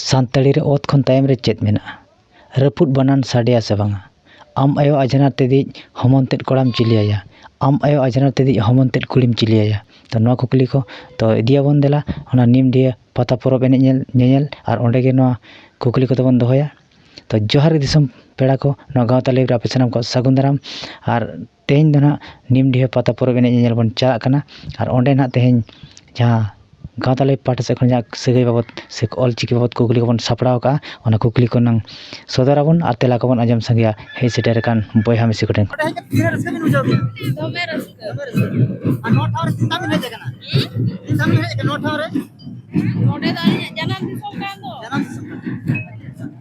ᱥᱟᱱᱛᱟᱲᱤ ᱨᱮ ᱚᱛ ᱠᱷᱚᱱ ᱛᱟᱭᱚᱢ ᱨᱮ ᱪᱮᱫ ᱢᱮᱱᱟᱜᱼᱟ ᱨᱟᱹᱯᱩᱫ ᱵᱟᱱᱟᱱ ᱥᱟᱰᱮᱭᱟ ᱥᱮ ᱵᱟᱝᱟ ᱟᱢ ᱟᱭᱳ ᱟᱡᱷᱱᱟᱨ ᱛᱮᱫᱤᱡ ᱦᱚᱢᱚᱱ ᱛᱮᱫ ᱠᱚᱲᱟᱢ ᱪᱤᱞᱤ ᱟᱭᱟ ᱟᱢ ᱟᱭᱳ ᱟᱡᱷᱱᱟᱨ ᱛᱮᱫᱤᱡ ᱦᱚᱢᱚᱱ ᱛᱮᱫ ᱠᱩᱲᱤᱢ ᱪᱤᱞᱤ ᱟᱭᱟ ᱛᱚ ᱱᱚᱣᱟ ᱠᱩᱠᱞᱤ ᱠᱚ ᱛᱚ ᱤᱫᱤᱭᱟᱵᱚᱱ ᱫᱮᱞᱟ ᱚᱱᱟ ᱱᱤᱢ ᱰᱤᱭᱟᱹ ᱯᱟᱛᱟ ᱯᱚᱨᱚᱵᱽ ᱮᱱᱮᱡ ᱧᱮᱞ ᱧᱮᱧᱮᱞ ᱟᱨ ᱚᱸᱰᱮ ᱜᱮ ᱱᱚᱣᱟ ᱠᱩᱠᱞᱤ ᱠᱚᱫᱚ ᱵᱚᱱ ᱫᱚᱦᱚᱭᱟ ᱛᱚ ᱡᱚᱦᱟᱨ ᱜᱮ ᱫᱤᱥᱚᱢ ᱯᱮᱲᱟ ᱠᱚ ᱱᱚᱣᱟ ᱜᱟᱶᱛᱟ ᱞᱟᱹᱭ ᱨᱮ ᱟᱯᱮ ᱥᱟᱱᱟᱢ ᱠᱚ ᱥᱟᱹᱜᱩᱱ ᱫᱟᱨᱟᱢ ᱟᱨ ᱛᱮᱦᱮᱧ ᱫᱚ ᱱᱟᱦᱟᱜ ᱱᱤᱢᱰᱤᱦᱟᱹ ᱯᱟᱛᱟ ᱯᱚᱨᱚᱵᱽ ᱮᱱᱮᱡ ᱧᱮᱧᱮᱞ ᱵᱚᱱ ᱪᱟᱞᱟᱜ ᱠᱟᱱᱟ ᱟᱨ ᱚᱸᱰᱮ ᱱᱟᱦᱟᱜ ᱛᱮᱦᱮᱧ ᱡᱟᱦᱟᱸ ᱜᱟᱶᱛᱟ ᱞᱟᱹᱭᱤᱯᱷ ᱯᱟᱦᱴᱟ ᱥᱮᱫ ᱠᱷᱚᱱ ᱡᱟᱦᱟᱸ ᱥᱟᱹᱜᱟᱹᱭ ᱵᱟᱵᱚᱫ ᱥᱮ ᱚᱞ ᱪᱤᱠᱤ ᱵᱟᱵᱚᱫ ᱠᱩᱠᱞᱤ ᱠᱚᱵᱚᱱ ᱥᱟᱯᱲᱟᱣ ᱠᱟᱜᱼᱟ ᱚᱱᱟ ᱠᱩᱠᱞᱤ ᱠᱚ ᱦᱩᱱᱟᱹᱝ ᱥᱚᱫᱚᱨ ᱟᱵᱚᱱ ᱟᱨ ᱛᱮᱞᱟ ᱠᱚᱵᱚᱱ ᱟᱸᱡᱚᱢ ᱥᱟᱸᱜᱮᱭᱟ ᱦᱮᱡ ᱥᱮᱴᱮᱨ ᱟᱠᱟᱱ ᱵᱚᱭᱦᱟ ᱢᱤᱥᱤ ᱠᱚᱴᱷᱮᱱ ᱠᱷᱚᱱ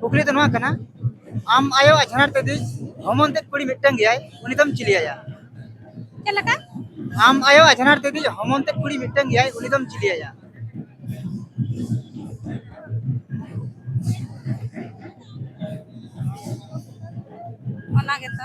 ᱠᱩᱠᱞᱤ ᱫᱚ ᱱᱚᱣᱟ ᱠᱟᱱᱟ ᱟᱢ ᱟᱭᱳ ᱟᱡᱷᱟᱲ ᱛᱮ ᱫᱤᱡ ᱦᱚᱢᱚᱱ ᱛᱮᱫ ᱠᱩᱲᱤ ᱢᱤᱫᱴᱟᱝ ᱜᱮᱭᱟᱭ ᱩᱱᱤ ᱫᱚᱢ ᱪᱤᱞᱤᱭᱟᱭᱟ ᱪᱮᱫ ᱞᱮᱠᱟ ᱟᱢ ᱟᱭᱳ ᱟᱡᱷᱟᱲ ᱛᱮ ᱫᱤᱡ ᱦᱚᱢᱚᱱ ᱛᱮᱫ ᱠᱩᱲᱤ ᱢᱤᱫᱴᱟᱝ ᱜᱮᱭᱟᱭ ᱩᱱᱤ ᱫᱚᱢ ᱪᱤᱞᱤᱭᱟᱭᱟ ᱚᱱᱟ ᱜᱮᱛᱚ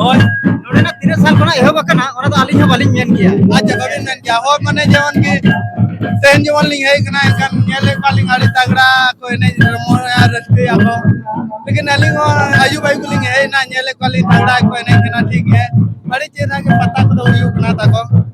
ᱦᱳᱭ ᱱᱚᱰᱮᱱᱟᱜ ᱛᱤᱱᱟᱹᱜ ᱥᱟᱞ ᱠᱷᱚᱱᱟᱜ ᱮᱦᱚᱵ ᱟᱠᱟᱱᱟ ᱚᱱᱟ ᱫᱚ ᱟᱹᱞᱤᱧ ᱦᱚᱸ ᱵᱟᱹᱞᱤᱧ ᱢᱮᱱ ᱜᱮᱭᱟ ᱟᱪᱪᱷᱟ ᱵᱟᱹᱵᱤᱱ ᱢᱮᱱ ᱜᱮᱭᱟ ᱦᱳᱭ ᱢᱟᱱᱮ ᱡᱮᱢᱚᱱ ᱠᱤ ᱛᱮᱦᱮᱧ ᱡᱮᱢᱚᱱ ᱞᱤᱧ ᱦᱮᱡ ᱠᱟᱱᱟ ᱮᱱᱠᱷᱟᱱ ᱧᱮᱞᱮᱫ ᱠᱚᱣᱟᱞᱤᱧ ᱟᱹᱰᱤ ᱛᱟᱜᱽᱲᱟ ᱠᱚ ᱮᱱᱮᱡ ᱨᱚᱢᱚᱭᱟ ᱨᱟᱹᱥᱠᱟᱹᱭᱟ ᱠᱚ ᱞᱮᱠᱤᱱ ᱟᱹᱞᱤᱧ ᱦᱚᱸ ᱟᱹᱭᱩᱵ ᱟᱹᱭᱩᱵ ᱞᱤᱧ ᱦᱮᱡ ᱮᱱᱟ ᱧᱮᱞᱮᱫ ᱠᱚᱣᱟᱞᱤᱧ ᱛᱟᱜᱽᱲᱟ ᱠᱚ ᱮᱱᱮᱡ ᱠᱟᱱᱟ ᱴᱷᱤᱠ ᱜᱮ ᱟᱹᱰᱤ ᱪᱮᱦᱨᱟ ᱜᱮ ᱯᱟᱛᱟ ᱠᱚᱫᱚ ᱦᱩᱭᱩᱜ ᱠᱟᱱᱟ ᱛᱟᱠᱚ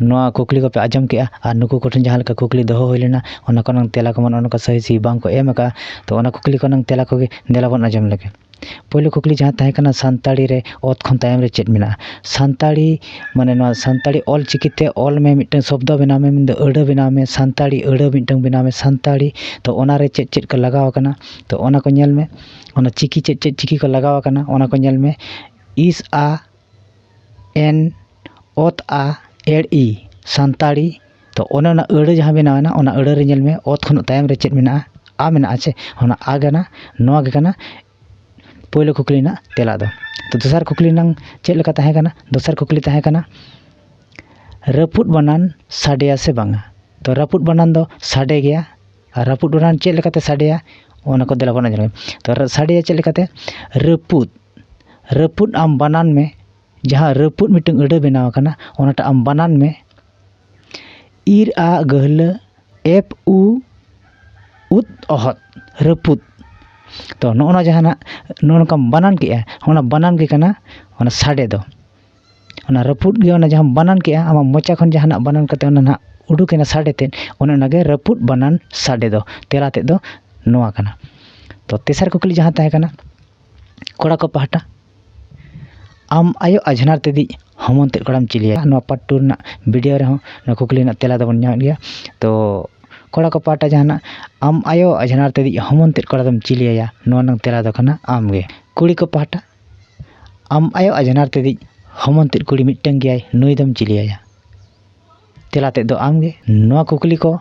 ᱱᱚᱣᱟ ᱠᱩᱠᱞᱤ ᱠᱚᱯᱮ ᱟᱸᱡᱚᱢ ᱠᱮᱜᱼᱟ ᱟᱨ ᱱᱩᱠᱩ ᱠᱚᱴᱷᱮᱱ ᱡᱟᱦᱟᱸ ᱞᱮᱠᱟ ᱠᱩᱠᱞᱤ ᱫᱚᱦᱚ ᱦᱩᱭ ᱞᱮᱱᱟ ᱚᱱᱟ ᱠᱚ ᱨᱮᱱᱟᱝ ᱛᱮᱞᱟ ᱠᱚᱢᱟ ᱱᱚᱜᱼᱚ ᱱᱚᱝᱠᱟ ᱥᱟᱹᱦᱤ ᱥᱟᱹᱦᱤ ᱵᱟᱝ ᱠᱚ ᱮᱢ ᱠᱟᱜᱼᱟ ᱛᱚ ᱚᱱᱟ ᱠᱩᱠᱞᱤ ᱠᱚ ᱨᱮᱱᱟᱝ ᱛᱮᱞᱟ ᱠᱚᱜᱮ ᱫᱮᱞᱟ ᱵᱚᱱ ᱟᱸᱡᱚᱢ ᱞᱮᱜᱮ ᱯᱳᱭᱞᱳ ᱠᱩᱠᱞᱤ ᱡᱟᱦᱟᱸ ᱛᱟᱦᱮᱸ ᱠᱟᱱᱟ ᱥᱟᱱᱛᱟᱲᱤ ᱨᱮ ᱚᱛ ᱠᱷᱚᱱ ᱛᱟᱭᱚᱢ ᱨᱮ ᱪᱮᱫ ᱢᱮᱱᱟᱜᱼᱟ ᱥᱟᱱᱛᱟᱲᱤ ᱢᱟᱱᱮ ᱱᱚᱣᱟ ᱥᱟᱱᱛᱟᱲᱤ ᱚᱞ ᱪᱤᱠᱤ ᱛᱮ ᱚᱞ ᱢᱮ ᱢᱤᱫᱴᱟᱹᱝ ᱥᱚᱵᱫᱚ ᱵᱮᱱᱟᱣ ᱢᱮ ᱢᱮᱱᱫᱚ ᱟᱹᱲᱟᱹ ᱵᱮᱱᱟᱣ ᱢᱮ ᱥᱟᱱᱛᱟᱲᱤ ᱟᱹᱲᱟᱹ ᱢᱤᱫᱴᱟᱹᱝ ᱵᱮᱱᱟᱣ ᱢᱮ ᱥᱟᱱᱛᱟᱲᱤ ᱛᱚ ᱚᱱᱟ ᱨᱮ ᱪᱮᱫ ᱪᱮᱫ ᱠᱚ ᱞᱟᱜᱟᱣ ᱠᱟᱱᱟ ᱛᱚ ᱚᱱᱟ ᱠᱚ ᱧᱮᱞ ᱢᱮ ᱚᱱᱟ ᱪᱤᱠᱤ ᱪᱮᱫ ᱪᱮᱫ ᱪᱤᱠᱤ ᱠᱚ ᱞᱟᱜᱟᱣ ᱠᱟᱱᱟ ᱚᱱᱟ ᱠᱚ ᱧᱮᱞ ᱢᱮ ᱤᱥ ᱟ ᱮᱱ ᱚᱛ ᱟ ᱮᱲ ᱤ ᱥᱟᱱᱛᱟᱲᱤ ᱛᱚ ᱚᱱᱮ ᱚᱱᱟ ᱟᱹᱲᱟᱹ ᱡᱟᱦᱟᱸ ᱵᱮᱱᱟᱣᱮᱱᱟ ᱚᱱᱟ ᱟᱹᱲᱟᱹ ᱨᱮ ᱧᱮᱞ ᱢᱮ ᱚᱛ ᱠᱷᱚᱱ ᱛᱟᱭᱚᱢ ᱨᱮ ᱪᱮᱫ ᱢᱮᱱᱟᱜᱼᱟ ᱟ ᱢᱮᱱᱟᱜᱼᱟ ᱥᱮ ᱚᱱᱟ ᱟ ᱠᱟᱱᱟ ᱱᱚᱣᱟ ᱜᱮ ᱠᱟᱱᱟ ᱯᱳᱭᱞᱳ ᱠᱩᱠᱞᱤ ᱨᱮᱱᱟᱜ ᱛᱮᱞᱟ ᱫᱚ ᱛᱚ ᱫᱚᱥᱟᱨ ᱠᱩᱠᱞᱤ ᱨᱮᱱᱟᱝ ᱪᱮᱫ ᱞᱮᱠᱟ ᱛᱟᱦᱮᱸ ᱠᱟᱱᱟ ᱫᱚᱥᱟᱨ ᱠᱩᱠᱞᱤ ᱛᱟᱦᱮᱸ ᱠᱟᱱᱟ ᱨᱟᱹᱯᱩᱫ ᱵᱟᱱᱟᱱ ᱥᱟᱰᱮᱭᱟ ᱥᱮ ᱵᱟᱝᱟ ᱛᱚ ᱨᱟᱹᱯᱩᱫ ᱵᱟᱱᱟᱱ ᱫᱚ ᱥᱟᱰᱮ ᱜᱮᱭᱟ ᱟᱨ ᱨᱟᱹᱯᱩᱫ ᱵᱟᱱᱟᱱ ᱪᱮᱫ ᱞᱮᱠᱟᱛᱮ ᱥᱟᱰᱮᱭᱟ ᱚᱱᱟ ᱠᱚ ᱫᱮᱞᱟ ᱵᱚᱱ ᱟᱸᱡᱚᱢ ᱞᱮᱜᱮ ᱛᱚ ᱥᱟᱰᱮᱭᱟ ᱪᱮᱫ ᱞᱮᱠᱟᱛᱮ ᱨᱟᱹᱯᱩᱫ ᱨᱟᱹᱯᱩᱫ ᱟᱢ ᱵᱟᱱᱟᱱ ᱢᱮ ᱡᱟᱦᱟᱸ ᱨᱟᱹᱯᱩᱫ ᱢᱤᱫᱴᱟᱱ ᱟᱹᱲᱟᱹ ᱵᱮᱱᱟᱣ ᱟᱠᱟᱱᱟ ᱚᱱᱟᱴᱟᱜ ᱟᱢ ᱵᱟᱱᱟᱱ ᱢᱮ ᱤᱨ ᱟᱜ ᱜᱟᱹᱦᱞᱟᱹ ᱮᱯᱷ ᱩ ᱩᱫ ᱚᱦᱚᱫ ᱨᱟᱹᱯᱩᱫ ᱛᱚ ᱱᱚᱜᱼᱚ ᱱᱚᱣᱟ ᱡᱟᱦᱟᱸ ᱱᱟᱜ ᱱᱚᱜᱼᱚ ᱱᱚᱝᱠᱟᱢ ᱵᱟᱱᱟᱱ ᱠᱮᱫᱼᱟ ᱚᱱᱟ ᱵᱟᱱᱟᱱ ᱜᱮ ᱠᱟᱱᱟ ᱚᱱᱟ ᱥᱟᱰᱮ ᱫᱚ ᱚᱱᱟ ᱨᱟᱹᱯᱩᱫ ᱜᱮ ᱚᱱᱟ ᱡᱟᱦᱟᱸᱢ ᱵᱟᱱᱟᱱ ᱠᱮᱫᱼᱟ ᱟᱢᱟᱜ ᱢᱚᱪᱟ ᱠᱷᱚᱱ ᱡᱟᱦᱟᱱᱟᱜ ᱵᱟᱱᱟᱱ ᱠᱟᱛᱮ ᱚᱱᱟ ᱱᱟᱜ ᱩᱰᱩᱠ ᱮᱱᱟ ᱥᱟᱰᱮ ᱛᱮᱫ ᱚᱱᱮ ᱚᱱᱟᱜᱮ ᱨᱟᱹᱯᱩᱫ ᱵᱟᱱᱟᱱ ᱥᱟᱰᱮ ᱫᱚ ᱛᱮᱞᱟ ᱛᱮᱫ ᱫᱚ ᱱᱚᱣᱟ ᱠᱟᱱᱟ ᱛᱚ ᱛᱮᱥᱟᱨ ᱠᱩᱠᱞᱤ ᱡᱟᱦᱟᱸ ᱛᱟᱦᱮᱸ ᱠᱟᱱᱟ ᱠᱚᱲᱟ ᱠᱚ ᱯᱟᱦᱴᱟ ᱟᱢ ᱟᱭᱳ ᱟᱡᱷᱱᱟᱨ ᱛᱮᱫᱤᱡ ᱦᱚᱢᱚᱱ ᱛᱮᱫ ᱠᱚᱲᱟᱢ ᱪᱤᱞᱤᱭᱟ ᱱᱚᱣᱟ ᱯᱟᱨᱴ ᱴᱩ ᱨᱮᱱᱟᱜ ᱵᱷᱤᱰᱤᱭᱳ ᱨᱮᱦᱚᱸ ᱱᱚᱣᱟ ᱠᱩᱠᱞᱤ ᱨᱮᱱᱟᱜ ᱛᱮᱞᱟ ᱫᱚᱵᱚᱱ ᱧᱟᱢᱮᱫ ᱜᱮᱭᱟ ᱛᱚ ᱠᱚᱲᱟ ᱠᱚ ᱯᱟᱦᱴᱟ ᱡᱟᱦᱟᱱᱟᱜ ᱟᱢ ᱟᱭᱳ ᱟᱡᱷᱱᱟᱨ ᱛᱮᱫᱤᱡ ᱦᱚᱢᱚᱱ ᱛᱮᱫ ᱠᱚᱲᱟ ᱫᱚᱢ ᱪᱤᱞᱤ ᱟᱭᱟ ᱱᱚᱣᱟ ᱨᱮᱱᱟᱜ ᱛᱮᱞᱟ ᱫᱚ ᱠᱟᱱᱟ ᱟᱢ ᱜᱮ ᱠᱩᱲᱤ ᱠᱚ ᱯᱟᱦᱴᱟ ᱟᱢ ᱟᱭᱳ ᱟᱡᱷᱱᱟᱨ ᱛᱮᱫᱤᱡ ᱦᱚᱢᱚᱱ ᱛᱮᱫ ᱠᱩᱲᱤ ᱢᱤᱫᱴᱟᱹᱝ ᱜᱮᱭᱟᱭ ᱱᱩᱭ ᱫᱚᱢ ᱪᱤᱞᱤ ᱟᱭᱟ ᱛᱮᱞᱟ ᱛᱮᱫ ᱫᱚ ᱟᱢᱜᱮ ᱱᱚᱣᱟ ᱠᱩᱠᱞᱤ ᱠᱚ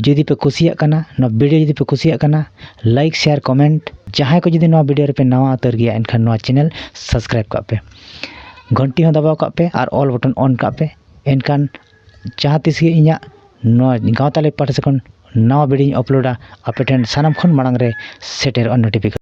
ᱡᱩᱫᱤ ᱯᱮ ᱠᱩᱥᱤᱭᱟᱜ ᱠᱟᱱᱟ ᱱᱚᱣᱟ ᱵᱷᱤᱰᱤᱭᱳ ᱡᱩᱫᱤ ᱯᱮ ᱠᱩᱥᱤᱭᱟᱜ ᱠᱟᱱᱟ ᱞᱟᱭᱤᱠ ᱥᱮᱭᱟᱨ ᱠᱚᱢᱮᱱᱴ ᱡᱟᱦᱟᱸᱭ ᱠᱚ ᱡᱩᱫᱤ ᱱᱚᱣᱟ ᱵᱷᱤᱰᱤᱭᱳ ᱨᱮᱯᱮ ᱱᱟᱣᱟ ᱩᱛᱟᱹᱨ ᱜᱮᱭᱟ ᱮᱱᱠᱷᱟᱱ ᱱᱚᱣᱟ ᱪᱮᱱᱮᱞ ᱥᱟᱵᱥᱠᱨᱟᱭᱤᱵᱽ ᱠᱟᱜ ᱯᱮ ᱜᱷᱚᱱᱴᱤ ᱦᱚᱸ ᱫᱟᱵᱟᱣ ᱠᱟᱜ ᱯᱮ ᱟᱨ ᱚᱞ ᱵᱚᱴᱚᱱ ᱚᱱ ᱠᱟᱜ ᱯᱮ ᱮᱱᱠᱷᱟᱱ ᱡᱟᱦᱟᱸ ᱛᱤᱥ ᱜᱮ ᱤᱧᱟᱹᱜ ᱱᱚᱣᱟ ᱜᱟᱶᱛᱟ ᱞᱮ ᱯᱟᱦᱴᱟ ᱥᱮᱫ ᱠᱷᱚᱱ ᱱᱟᱣᱟ ᱵᱷᱤᱰᱤᱭᱳᱧ ᱟᱯᱞᱳᱰᱟ ᱟᱯᱮ ᱴᱷᱮᱱ ᱥᱟᱱᱟᱢ ᱠᱷᱚᱱ ᱢᱟᱲᱟᱝ ᱨᱮ ᱥᱮᱴᱮᱨᱚᱜᱼᱟ ᱱᱳᱴᱤᱯᱷᱤᱠᱮᱥᱚᱱ